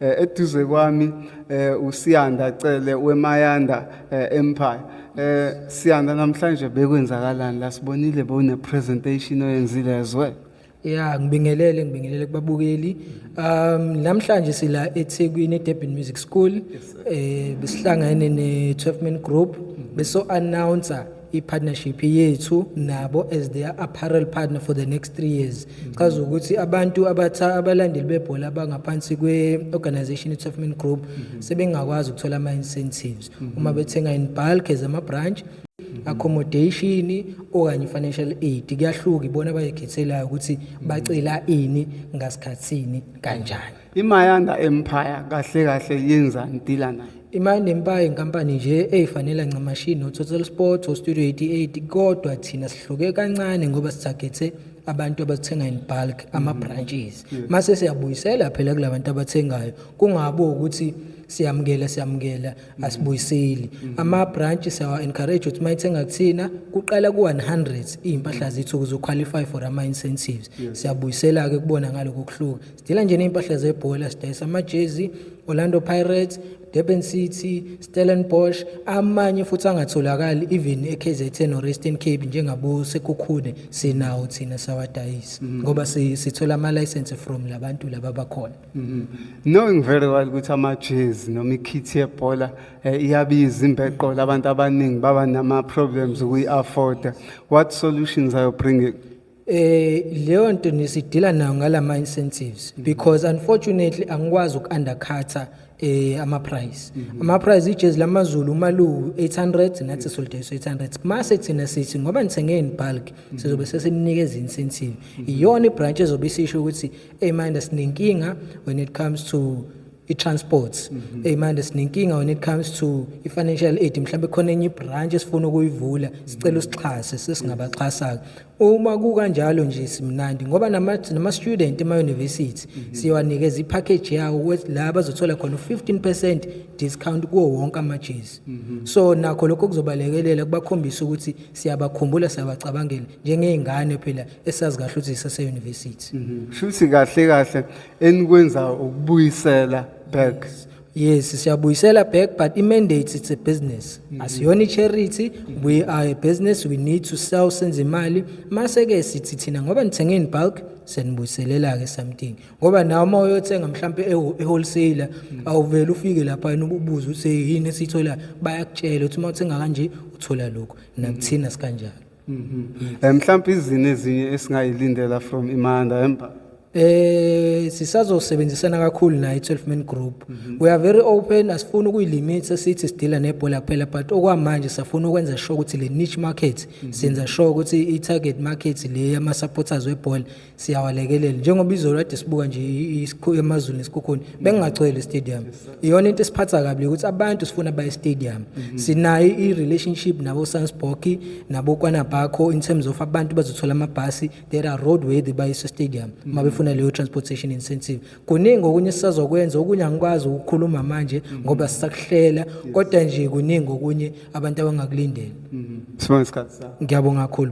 Eh, eduze kwami eh, uSiyanda Cele weMayanda eh, Empire Siyanda namhlanje bekwenzakalani la sibonile bone presentation oyenzile as well Yeah ngibingelele ngibingelele kubabukeli um namhlanje sila eThekwini eDurban Music School eh besihlangene ne 12 man group beso announcer i-partnership yethu nabo as their apparel partner for the next three years chaza ukuthi abantu abatha abalandeli bebhola abangaphansi kwe-organization i-tofman group sebengakwazi ukuthola ama-incentives uma bethenga in bulk as ama-branch accommodation okanye financial aid kuyahluka ibona abayikhethelayo ukuthi bacela ini ngasikhathini kanjani imayanda empire kahle kahle yenza ngidila nayo imayanda empire inkampani nje eyifanela ncamashini nototal sports ostudio 88 kodwa thina sihluke kancane ngoba sithagethe abantu abathenga in bulk mm-hmm. ama-branches mase siyabuyisela phela kula bantu abathengayo kungabi ukuthi siyamukela siyamukela mm-hmm. asibuyiseli mm-hmm. ama-branch siyawa-encourage ukuthi uma ithenga kuthina kuqala ku-100 iy'mpahla zethu ukuze uqualify for ama-incentives siyabuyisela-ke kubona ngaloko kuhluka Sidila nje ney'mpahla zebhola sidayisa amajezi Orlando Pirates Durban City Stellenbosch amanye futhi angatholakali even eKZN or Eastern Cape njengabo Sekhukhune sinawo thina sawadayisa mhm. ngoba sithola ama license from labantu laba bakhona mhm. knowing very well ukuthi amajezi noma ikhithi yebhola eh, iyabiza imbeqola abantu abaningi baba nama problems ukuyi afforda what solutions are you bringing eh leyo nto nisidila nayo ngalama incentives mm. because unfortunately angikwazi ukuundercutter eh ama price mm-hmm. ama price ijezi lamazulu uma lu 800 nathi solidayisa 800 mase thina sithi ngoba nithenge in bulk mm-hmm. sizobe sesinikeza incentive mm-hmm. iyona ibranch ezobe isisho ukuthi hey mind asinenkinga when it comes to i-transport mm -hmm. manje sinenkinga when it comes to i-financial aid mhlawumbe khona enye ibranch esifuna ukuyivula sicela mhm. usixhase sesingabaxhasa-ke uma kukanjalo nje simnandi ngoba nama-student ema-university mhm. siyowanikeza i-package yawo la bazothola khona u-15 percent discount kuwo wonke amajezi mhm. so nakho lokho kuzobalekelela kubakhombisa ukuthi siyabakhumbula siyabacabangela njengey'ngane phela esazi kahle ukuthi sisase-university shuthi kahle kahle enikwenzayo ukubuyisela back yes siyabuyisela back but i-mandate it's a business mm-hmm. asiyona i-charity we are a business we need to sell senze imali mase-ke sithi thina ngoba nithenge in bulk senibuyiselela-ke something ngoba nawe uma uyothenga mhlawumpe e-wholesaler mm. awuvele ufike lapha yena ububuze ukuthi yini esiyitholayo bayakutshela ukuthi uma uthenga kanje uthola lokhu nakuthina sikanjalo Mhm. Eh, mhlawumbe izini ezinye esingayilindela from Imanda Empire. Eh sisazosebenzisana kakhulu naye 12 man group. We are very open asifuni ukuyilimit sesithi sidila nebhola kuphela but okwamanje safuna ukwenza sure ukuthi le niche market senza sure ukuthi i target market le yama supporters webhola siyawalekelela njengoba izolo kade sibuka nje emazulu nesikhukhuni bengingagcwele istadium iyona into esiphatha kabi ukuthi abantu sifuna baye stadium mhm. sinayo i-relationship nabo Sansboki nabo Kwanabakho in terms of abantu bazothola amabhasi there are road worthy baye stadium mhm. mabefuna leyo transportation incentive kuningi okunye sisazokwenza okunye angikwazi ukukhuluma manje mhm. ngoba sisakuhlela kodwa nje kuningi okunye abantu abangakulindela sibonga isikhathi sakho ngiyabonga kakhulu